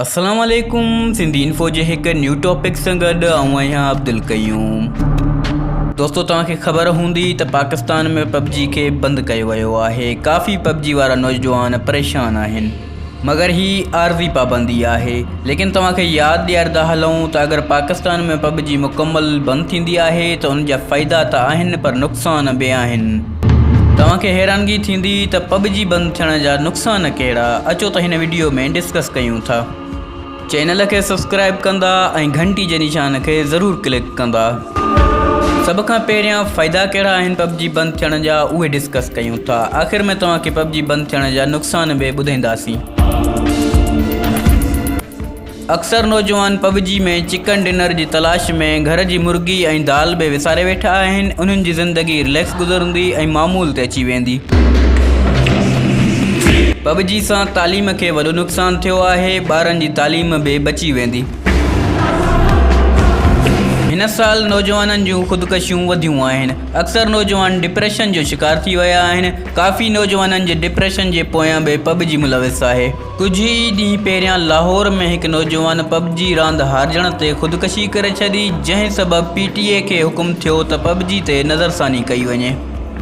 اسلام عليڪم سنڌي انفو جي هڪ نيو ٽاپڪ سان گڏ آئون آهيان عبدالقيوم دوستو توهان کي خبر هوندي ته پاڪستان ۾ پب جي کي بند ڪيو ويو آهي ڪافي پب جي وارا نوجوان پريشان آهن مگر هي عارضي پابندي آهي ليڪن توهان کي ياد ڏياريندا هلون ته اگر پاڪستان ۾ پب جي مڪمل بند ٿيندي آهي ته ان جا فائدا ته آهن پر نقصان به آهن توهان کي حيرانگي ٿيندي ته پب جي بند ٿيڻ جا نقصان ڪهڙا اچو ته هن وڊيو ۾ ڊسڪس ڪيون ٿا چينل کي سبسڪرائب ڪندا ۽ گهنٽي جي نشان کي ضرور ڪلڪ ڪندا سڀ کان پهريان فائدا ڪهڙا آهن پب جي بند ٿيڻ جا اهي ڊسڪس ڪيون ٿا آخر ۾ توهان کي پب جي بند ٿيڻ جا نقصان به ٻڌينداسين اڪثر نوجوان پب جي ۾ چڪن ڊنر جي تلاش ۾ گهر جي مرغي ۽ دال به وساري ويٺا آهن انهن جي زندگي رليڪس گذرندي ۽ معمول تي اچي ويندي پب جي سان تعليم کي وڏو نقصان ٿيو آهي ٻارن جي تعليم به بچي ويندي هن سال نوجوانن جون خودڪشيون وڌيون آهن اڪثر نوجوان ڊپريشن جو شڪار ٿي ويا آهن ڪافي نوجوانن جي ڊپريشن جي پويان به پب جي ملوث آهي ڪجهه ئي ڏينهن پهريان لاهور ۾ هڪ نوجوان پب جي راند هارجڻ تي خودڪشي ڪري ڇڏي جنهن سبب پي ٽي اي کي حڪم ٿيو ته پب جي تي نظرثاني ڪئي وڃي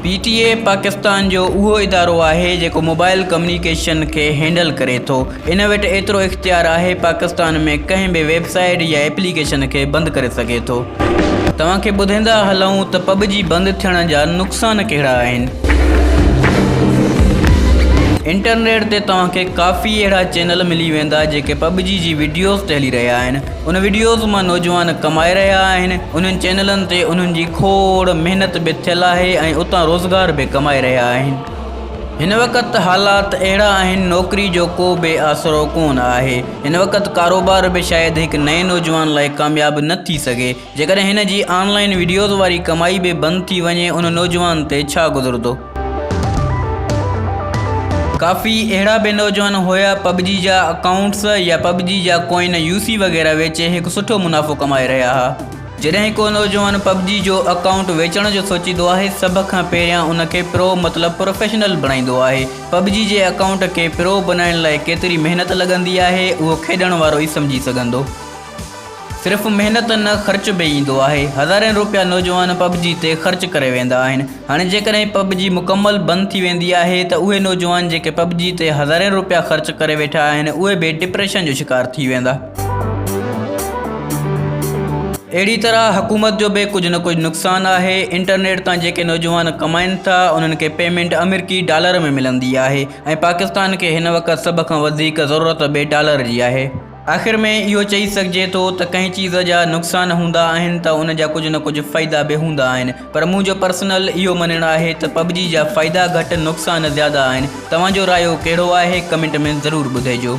پي ٽي اي پاڪستان جو اهو ادارو آهي جيڪو موبائل ڪميونيڪيشن کي هينڊل ڪري ٿو ان وٽ ايترو اختيار آهي پاڪستان ۾ ڪنهن به ويب سائيٽ يا ايپليڪيشن کي بند ڪري سگهي ٿو. توهان کي ٻڌيندا هلون ته پب جي بند ٿيڻ جا نقصان ڪهڙا آهن. انٽرنيٽ تي توهان کي ڪافي اهڙا چينل ملي ويندا جيڪي پب جي جي وڊيوز ٽهلي رهيا آهن ان وڊيوز مان نوجوان ڪمائي رهيا آهن انهن چينلن تي انهن جي کوڙ محنت به ٿيل آهي ۽ اتان روزگار به ڪمائي رهيا آهن هن وقت حالات اهڙا آهن نوڪري جو ڪو به آسرو ڪون آهي هن وقت ڪاروبار به شايد هڪ نئين نوجوان لاء ڪامياب نه ٿي سگهي جيڪڏهن هن جي آن لائين وڊيوز واري ڪمائي به بند ٿي وڃي ان نوجوان تي ڇا گذرندو. ڪافي اهڙا به نوجوان هيا پبجي جا اڪائونٽس يا پبجي جا ڪوئن يو سي وغيره ويچي هڪ سٺو منافعو ڪمائي رهيا ها. جڏهن ڪو نوجوان پبجي جو اڪائونٽ ويچڻ جو سوچيندو آهي سڀ کان پهريان ان کي پرو مطلب پروفيشنل بڻائيندو آهي. پبجي جي اڪائونٽ کي پرو بنائڻ لاء ڪيتري محنت لڳندي آهي اهو کيڏڻ وارو ئي سمجهي سگهندو. صرف محنت نه خرچ به ايندو آهي هزارين روپيا نوجوان پب جي تي خرچ ڪري ويندا آهن هاڻي جيڪڏهن پب جي مڪمل بند ٿي ويندي آهي ته اهي نوجوان جيڪي پب جي تي هزارين روپيا خرچ ڪري ويٺا آهن اهي به ڊپريشن جو شڪار ٿي ويندا. اهڙي طرح حڪومت جو به ڪجهه نه ڪجهه نقصان آهي انٽرنيٽ تان جيڪي نوجوان ڪمائين ٿا انهن کي پيمينٽ آمريڪي ڊالر ۾ ملندي آهي ۽ پاڪستان کي هن وقت سڀ کان وڌيڪ ضرورت به ڊالر جي آهي. آخر ۾ اهو چئي سگهجي ٿو ته ڪنهن چيز جا نقصان هوندا آهن ته ان جا ڪجهه نه ڪجهه فائدا به هوندا آهن پر منهنجو پرسنل اهو مڃڻ آهي ته پبجي جا فائدا گهٽ نقصان زياده آهن توهان جو رايو ڪهڙو آهي ڪمينٽ ۾ ضرور ٻڌئجو.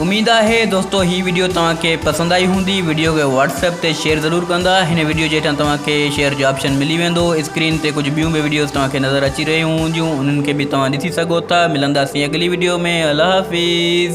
اميد آهي دوستو هي وڊيو توهان کي پسند آئي هوندي وڊيو کي واٽس ايپ تي شيئر ضرور ڪندا هن وڊيو جي هيٺان توهان کي شيئر جو آپشن ملي ويندو اسڪرين تي ڪجهه ٻيون به وڊيوز توهان کي نظر اچي رهيون هونديون انهن کي به توهان ڏسي سگهو ٿا ملنداسين اڳلي وڊيو ۾ الله حافظ.